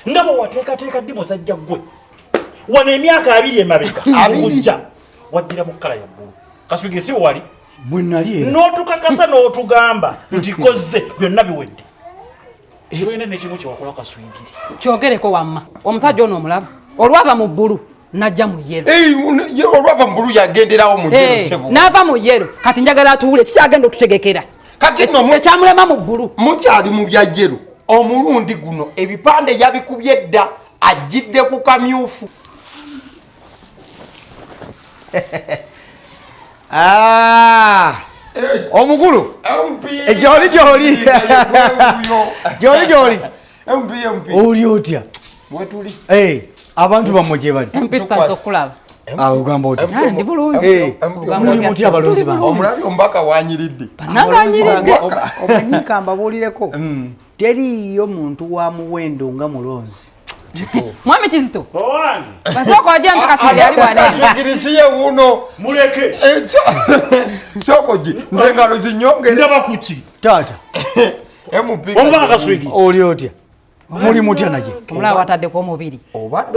nga bwe wateekateeka ddi musajja ggwe wano emyaka abiri emabega akujja wajjira mu kkala ya bbulu kaswigi si wali n'otukakasa n'otugamba nti kozze byonna biwedde Ekwenda ne kimu kyewakola kaswigiri. Kyogereko wamma. Omusajja ono omulaba. Olwava mu bbulu najja mu yero. Eyi olwava mu bbulu yagenderawo mu yero eh, sebo. N'ava mu yero kati njagala atuwule kikyagenda okutegekera. Kati no mu ekyamulema mu bbulu. Mukyali mu bya yero. Omulundi guno ebipande yabikubye dda ajjidde ku kamyufu. Ah! omukulu gyoli gyoli gyoli gyoli oli otya abantu bamwe gyebali ogamba otyamuli mutya abalonzi bange omulabye omubaka wanyiridde banange wanyiridde omanyi kambabuulireko mm. teriiyo muntu wa muwendo nga mulonzi mwami kizito basooka oja nti kasoli ali wanekigirisiye wuno muleke eh, sokoji nze ngalo zinyongere ndaba kuki taata omubaka kaswigi oli otya muli mutya naye omulaba wataddeko omubiri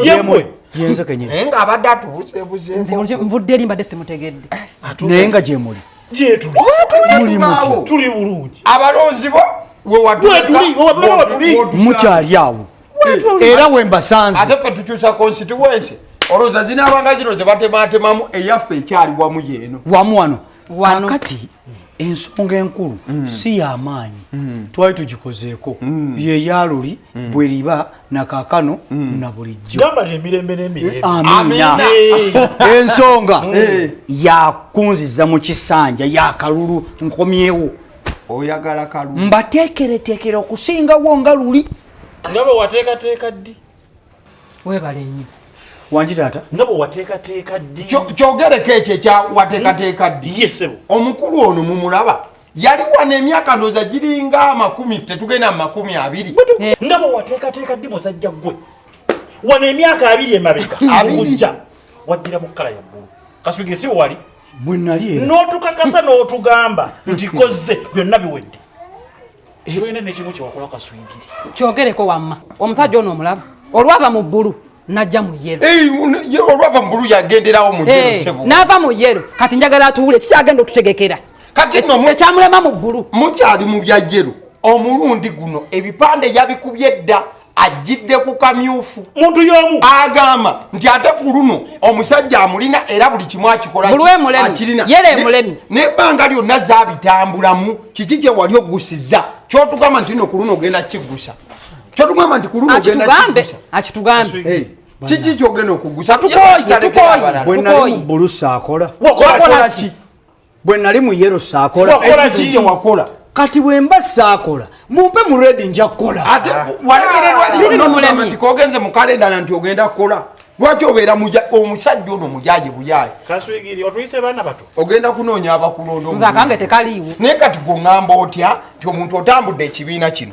yemwe yenzo kenyini naye nga abadde atubuzebuze nvudde eri mbadde simutegedde naye nga gyemuli tuli bulungi abalonzi bo mukyali awo era wembasanze ate fe tukyusa constituency olowooza zinaabanga zino zebatematemamu eyaffe ekyali wamu yeeno wamu wano wakati ensonga enkulu mm. si yamaanyi mm. twali tugikozeeko mm. yeyaluli bweriba nakakano mm. na bulijjo gamba lye mirembe n'emirembe eh, amina ensonga mm. eh. yakunziza mu kisanja yakalulu nkomyewo oyagala kalulu mbateekereteekera okusingawo nga luli nga bwe wateekateeka ddi webale nnyo wangi taata nga bwe wateekateeka ddi kyogereko ekyo ekya wateekateeka ddi yesebo omukulu ono mumulaba yali wano emyaka ndooza giringa amakumi tetugenda mu makumi abiri eh. ndaba wateekateeka ddi musajja gwe wano emyaka abiri emabega abijja waddira mu kkala ya bbulu kaswige si wali bwe nali n'otukakasa n'otugamba nti kozze byonna biwedde eh. tolina nekimu kyewakola kaswigiri kyogereko wamma omusajja ono omulaba olwaba mu bbulu najja mu yero olwava mubulu yagenderawo mu yero sebo nava mu yero kati njagala atuwule kikyagenda otutegekera kati no ekyamulema mu bulu mukyali mu bya yero omulundi guno ebipande yabikubye dda ajjidde ku kamyufu muntu yomu agamba nti ate ku luno omusajja amulina era buli kimu akikolaakirina nebbanga lyonna zabitambulamu kiki kye wali ogusiza kyotugamba nti no ku luno ogenda kigusa kyotugamba nti kululu akitugambe akitugambe hey. kiki kyogenda okugusa bwenali mubulu saakola wakolaki bwenali mu yero saakola kiki wakola kati bwemba saakola mumpe mu redi nja kukola ate ah. walemererwa nti kogenze mu kalendala nti ogenda kukola lwaki obeera omusajja ono mujaje buyaye ogenda kunoonya abakulonda naye kati gweŋamba otya nti omuntu otambudde ekibiina kino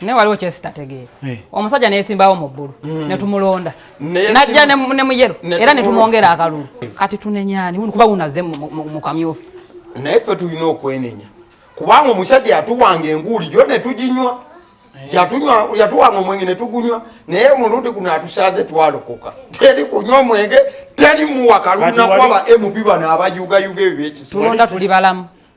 naye waliwo kyesitategeera eh. omusajja neyesimbawo mu bbulu hmm. netumulonda najja ne muyero era netumwongera akalulu eh. kati tunenyani kuba wunaze mu kamyufu naye ffe tulina okwenenya kubanga omusajja yatuwanga enguuli yo netuginywa eh. yatuwanga omwenge netugunywa naye omulundi guno atusanze twalokoka teri kunywa omwenge teri muwa kalulu nakwaba mp bano abayugayuga ebyo byekisitulonda tuli balamu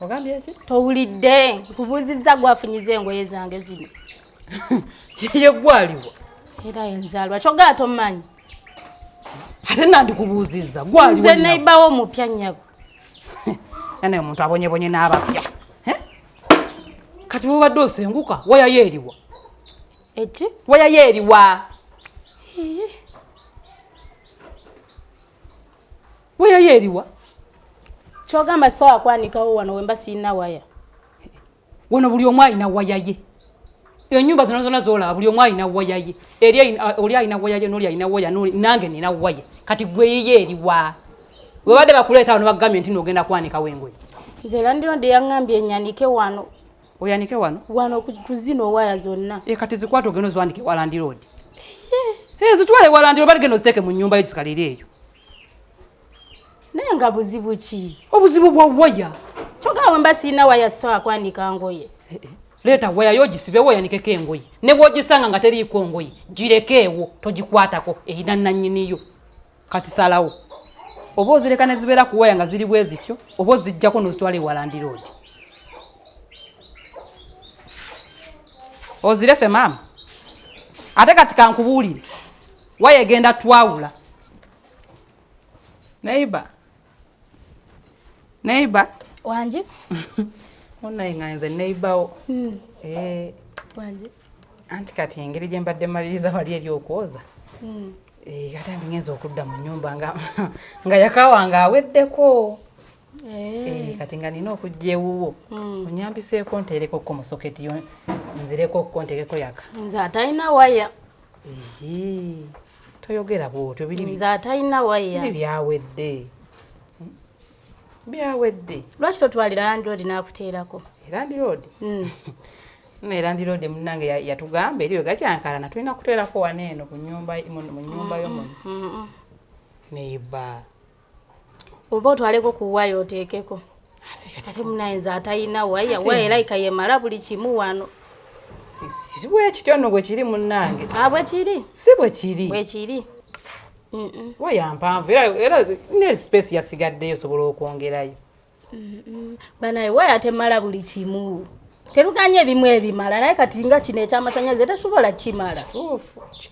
ogambye ki towulidde nkubuuzizza gwafunyiza engoye zange zino yeye gwaliwo era enzaalwa kyogala tomumanyi ate nandikubuuzizza gwaliwo nze neibawo omupya nyabo nanaye omuntu abonyebonye n'abapya kati wobadde osenguka wayayo eriwa eki wayayo eriwa waya yo eriwa kyogamba sisobola kwanikawo wano wemba sirina waya wano buli omu alina waya ye enyumba zino zona zolaba buli omu alina waya ye oli alina waya ye noli alina waya nange nina waya kati gweyiye eriwa webadde bakuleeta wano bagambye nti nogenda kwanikawo engoye nze landirondi yaŋambye enyanike wano oyanike wano wano kuzino waya zonna e kati zikwata ogenda oziwandike walandi road e zitwale walandi road baligenda oziteeke mu nyumba yo zikalire eyo naye nga buzibu ki obuzibu bwa waya kyogaa wemba sirina waya sisobola kwandika ngoye eh, eh. leeta waya yo ogisibewo oyanikeko engoye ne bwogisanga nga teriiko ngoye girekeewo togikwatako erina nanyiniyo kati salawo oba ozireka ne zibeera ku waya nga ziri bwe zityo oba ozijjako n'ozitwala ewalandi roodi ozirese maama ate kati kankubuulire waya egenda twawula naiba Neighbor. Wanji. Onaye nga nze neighbor wo. Mm. Eh. Wanji. Anti kati engeri gye mbadde maliriza wali eri okwoza. Mm. Eh, kati andi ngenza okudda mu nyumba nga nga yakawa nga aweddeko. Eh. eh kati nga nina okujja ewuwo. Mm. Onyambiseeko nteereko ko musoketi yo nzireko ko nteekeko yaka. Nze atalina waya. toyogera bwotyo nze atalina waya byawedde hmm? byawedde lwaki totwalira landiroodi n'akuteerako landiroodi hmm. naye landiroodi munange yatugamba eriyo gakyankalana tulina kuteerako wano eno mu nyumba yo muno hmm, neiba oba otwaleko ku waya oteekeko ate munaye nze atalina waya waya era ika yemala buli kimu wano si bwekityo nno bwekiri munnange ah, bwekiri si bwekiri bwekiri waya mpanvu era ne space yasigaddeyo osobola okwongerayo banaye waya temala buli kimu teruganye ebimu ebimala naye kati nga kino ekyamasanyalaze tesobola kimala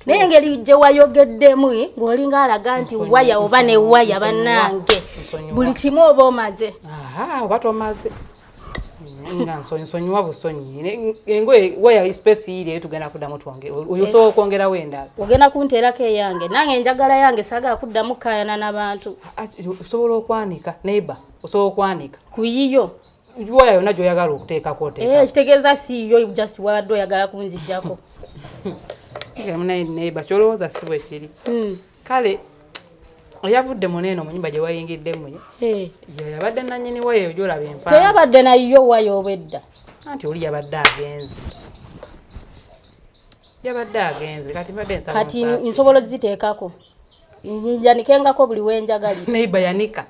naye engeri gye wayogeddemu eh, ng'olinga alaga nti waya oba ne waya bannange buli kimu oba omaze oba tomaze nga nsonyiwa busonyi engoye waya space yiri eyo tugenda kuddamu twange oyo osobola okwongerawo endala ogenda kunteerako eyange nange enjagala yange sagala kuddamu kukayana nabantu osobola okwanika neighbor osobola okwanika kuyiyo waya yonna gyoyagala okuteekako oteeka eh, kitegeeza si yo just wabadde oyagala kunzijjako munaye neighbor kyolowooza si bwe kiri hmm. kale oyavudde muneeno mu nyumba gye wayingiddemu eh. yabadde nanyini waya eyo gyolaba empa teyabadde nayo waya obwedda anti oli yabadde agenze yabadde agenze kati mbadde kati nsobola oziteekako njanikengako buli wenjagali neiba yanika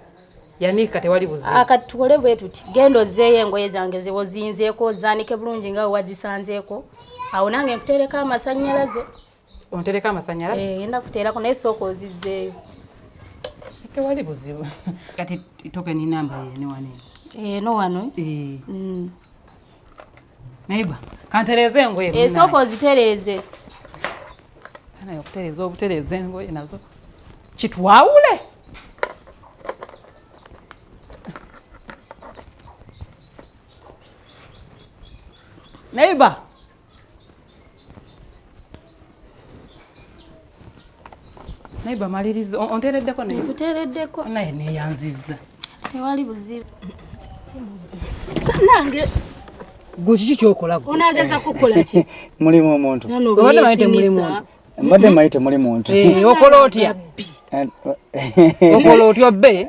yanika tewali buzibu ah, kati tukole bwe tuti genda ozzeeyo engoye zange zewozinzeeko ozanike bulungi nga wewazisanzeeko awo nange nkutereko amasannyalaze ontereko amasannyalaze eh, genda kuteerako naye sooka ozizzeeyo tewali buzibu kati tokeni namba yene wano eno eh, wano eh. mm. Neighbor, kantereeze engoye. Esooka ozitereeze. Naye okutereeza obutereeza engoye nazo kitwawule. Neighbor. naye bamaliriza onteereddeko nkuteereddeko naye neeyanzizza tewali buzibu nange gwe kiki kyokola onageza kukola ki mulimu omuntu obadde mayite muli muntu mbadde mayite muli muntu eh, okola otya eh, okola otya obbe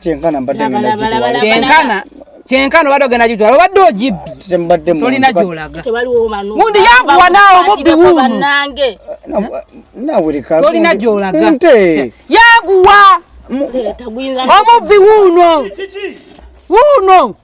kyenkana mbadde kyenkana kyenkana obadde ogenda gitwala obadde ogibbye tolina gyolaga gundi yanguwa naawe mubbi wuuno tolina gyolaga yanguwa omubbi wuuno wuuno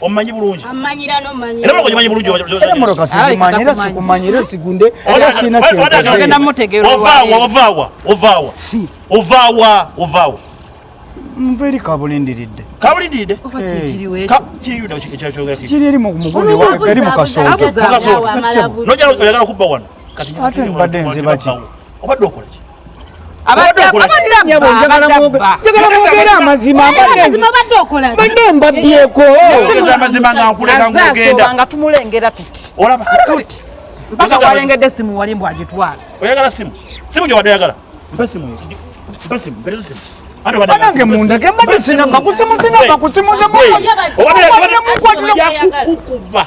omumanyi bulungi era moko gimanyi bulungi emoroka sigimanyi era sikumanyi era sigunde era sirina kyogenda mutegeera ovaawa ovaawa ovaawa ovaawa ovaawa nva eri kabulindiridde kabulindiridde kiri eri muguli eri mukasooto nojala oyagala kubba wano ate mbadde nzibaki obadde okolaki njagala amazima mbadde mbabbyeko amazima nga nkuleka ngogenda nga tumulengera tuti olaba mpaka walengedde simu wali mbu agitwala oyagala simu simu gyewadde oyagala mpa simu mpa simu mperezo simu banange mundage mbadde sinamba kusimusinamba kusimuzimukwatirakukuba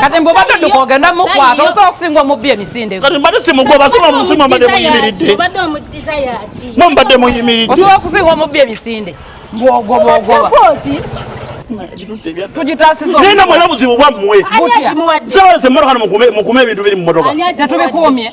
kati mbu obadde dduka ogenda mukwata osobola okusinga omubbi emisinde kati mbadde simugoba simamusima mbadde muyimiridde mwe mbadde muyimiridde osobola okusinga omubbi emisinde mbu ogoba ogoba tugitasizaena mwena buzibu bwammwe zebalese mmotoka mukume ebintu biri mu motoka tetubikuumye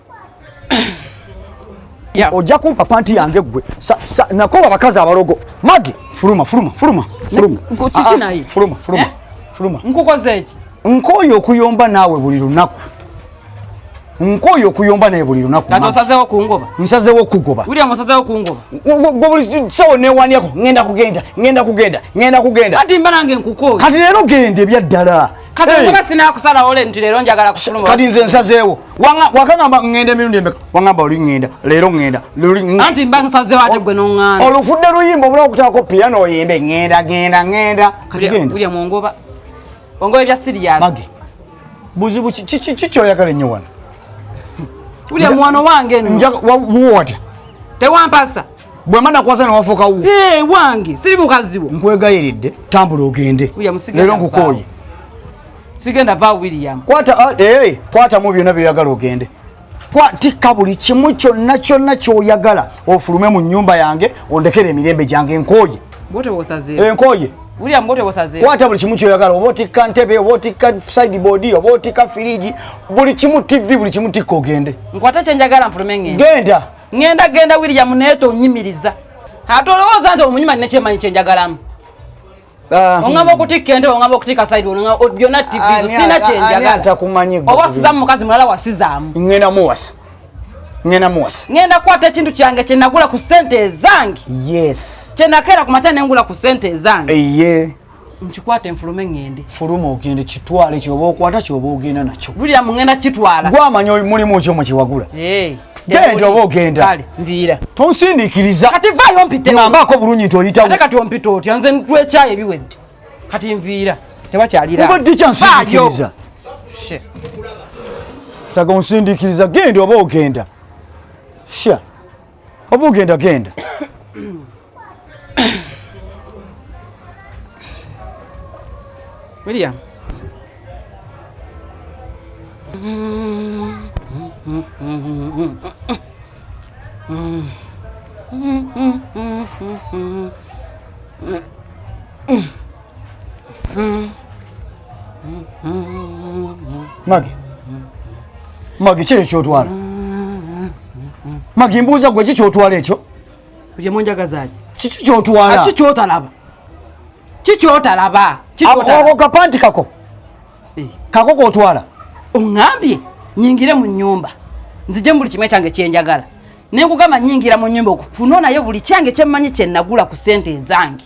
Yeah. Oja kumpa panti yange gwe. Sa, sa, nakoba bakazi abalogo. Magi, fuluma, fuluma, fuluma, fuluma. Nko chichi ah, ah, na hii. Fuluma, fuluma. Eh? Fuluma. Nko kwa zechi. Nko yo kuyomba nawe buli lunaku. Nko yo kuyomba nawe buli lunaku. Kato saze wa kuungoba. Msaze wa kuungoba. Uri ya msaze wa kuungoba. Gwa buli sawa ne wani yako. Ngenda kugenda. Ngenda kugenda. Ngenda kugenda. Hati mbana nge nkuko. Hati nero gende bia dala. kati hey. ngoba sinakusala ole nti lero njagala kufuluma kati nze nsazeewo wakangamba ngenda emirundi emeka wangamba oli ngenda lero ngenda anti mba nsazeewo ate gwe nonganda olufudde luyimba obula okutako piano oyimbe ngenda genda ngenda kati genda ulya mungoba ongoba ebya serious mage buzibu kiki oyagala ennyo wano ulya mwana wange njaga watya tewampasa bwe mana kwasa nawafuka wu hey, eh, wange siri mukazi wo nkwegayiridde tambula ogende leero nkukooye sigenda va william kwata ah, hey, eh, kwata mu byona byoyagala ogende kwatikka buli kimu kyonna kyonna kyoyagala ofulume mu nyumba yange ondekere emirembe gyange nkooye enkooye eh, William bote bosaze. Kwata buli kimu kyoyagala obotika ntebe obotika side board obotika firiji buli kimu TV buli kimu tikko gende. Nkwata kyenjagala mfulume ngende. Genda. Ngenda genda William neto onyimiriza. Ate olowooza nti omunyima nne kyemanyi kye njagalamu. Ah. Ongaba okutikka ente ongaba okutikka side onga byonna TV ah, sina kye njagala. Atakumanyi gwe. Oba sizamu mukazi mulala wasizaamu. Ngenda muwasa. Ngenda muwasa. Ngenda kwata ekintu kyange kye nagula ku sente ezange. Yes. Kye nakera ku makya ne ngula ku sente ezange. Eye. Eh, yeah. nkikwata enfulume ŋŋende fuluma ogende kitwale kyoba okwata kyoba ogenda nakyo lulira muŋenda kitwala gwamanya mulimu kyo mukiwagula genda oba ogenda nviira tonsindiikiriza kati vaayo mpiteambaako bulungi nti oyitawo ate kati ompita otya nze ntwekyayo ebiwedde kati nviira tebakyaliraobadde kyansindiikiriza taga onsindiikiriza genda oba ogenda sha Oba ogenda genda. William. Mm-hmm. Magi, Magi, kiri kyotwala Magi, mbuuza gwe kikyotwala ekyo kye munjagazaaki kiki kyotwala ki kyotalaba ki kyotalaba ako kapanti kako eh. kako kotwala oŋambye nyingire mu nyumba nzije mu buli kimu ekyange kyenjagala nenkugamba nyingira mu nyumba okufunonayo buli kyange kyemmanyi kyenagula ku sente ezange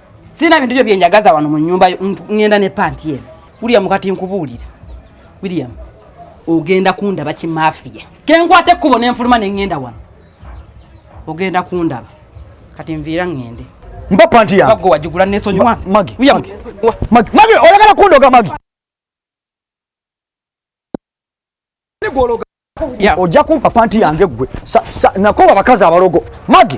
Sina bintu byo byenjagaza wano mu nyumba yo ngenda ne panti ye. William kati nkubuulira. William ogenda kundaba ki mafia. Kenkwate kubo ne nfuluma ne ngenda wano. Ogenda kundaba. Kati nviira ngende. Mba panti ya. Bago wajigula ne sonyi wansi. Magi. William. Magi. Magi. Magi. Oyagala kundoga Magi. ojja kumpa panti yange gwe nakoba abakazi abalogo magi